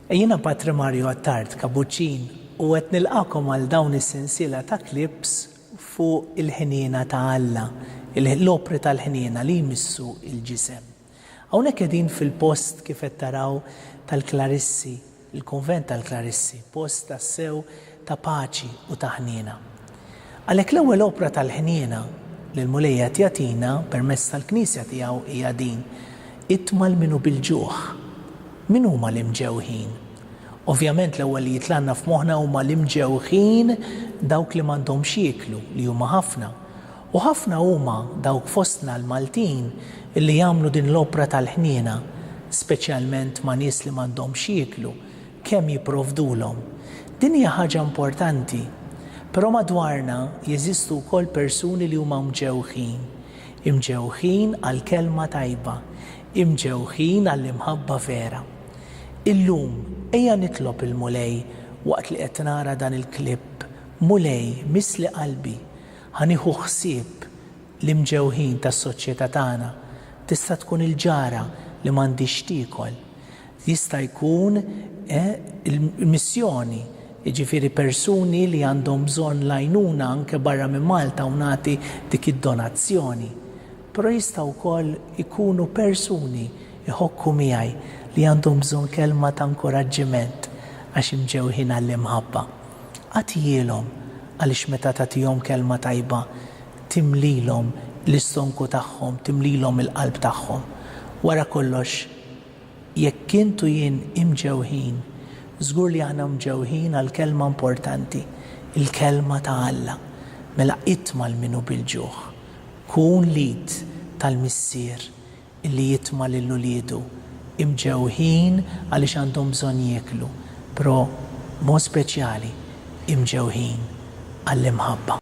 Jiena Patri Mario Attard Kabuċin u qed nilqakom għal dawn is-sensiela ta' clips fuq il-ħniena ta' Alla, l-opri tal-ħniena li jmissu l-ġisem. Hawnhekk qegħdin fil-post kif qed taraw tal-Klarissi, il-Kunvent tal-Klarissi, post tassew ta' paċi u ta' ħniena. Għalhekk l-ewwel opra tal-ħniena li l-Mulej qed jagħtina permezz tal-Knisja tiegħu hija din, Itmal min hu bil-ġuħ. Min huma l-imġewħin? Ovvjament l-ewwel li jitlgħalna f'moħħna huma l-imġewħin dawk li m'għandhomx jieklu, li huma ħafna. U ħafna huma dawk fostna l-Maltin li jagħmlu din l-opra tal-ħniena, speċjalment ma' nies li m'għandhomx x'jieklu, kemm jipprovdulhom. Din hija ħaġa importanti. Però madwarna jeżistu wkoll persuni li huma mġewħin. Imġewħin għall-kelma tajba. Imġewħin għall-imħabba vera. Illum, ejja nitlob il-Mulej waqt li qed nara dan il-klipp, Mulej, missli qalbi. Ħa nieħu ħsieb l-imġewħin tas-soċjetà tagħna. Tista' tkun il-ġara li m'għandhiex x'tiekol. Jista' jkun il-missjoni, jiġifieri persuni li għandhom bżonn l-għajnuna anke barra minn Malta u nagħti dik id-donazzjoni. Però jista' wkoll ikunu persuni, iħokku miegħi, li għandhom bżonn kelma ta' nkuraġġiment għax imġewħin għall-imħabba. Agħtihielhom, għaliex meta tagħtihom kelma tajba timlilhom l-istonku tagħhom, timlilhom il-qalb tagħhom. Wara kollox, jekk int u jien imġewħin, żgur li aħna mġewħin għall-kelma importanti, il-kelma ta' Alla. Mela itma' lil min hu bil-ġuħ. Kun l-id tal-Missier. li jitma' lil uliedu imġewħin għaliex għandhom bżonn jieklu, pro mod speċjali imġewħin għall-imħabba.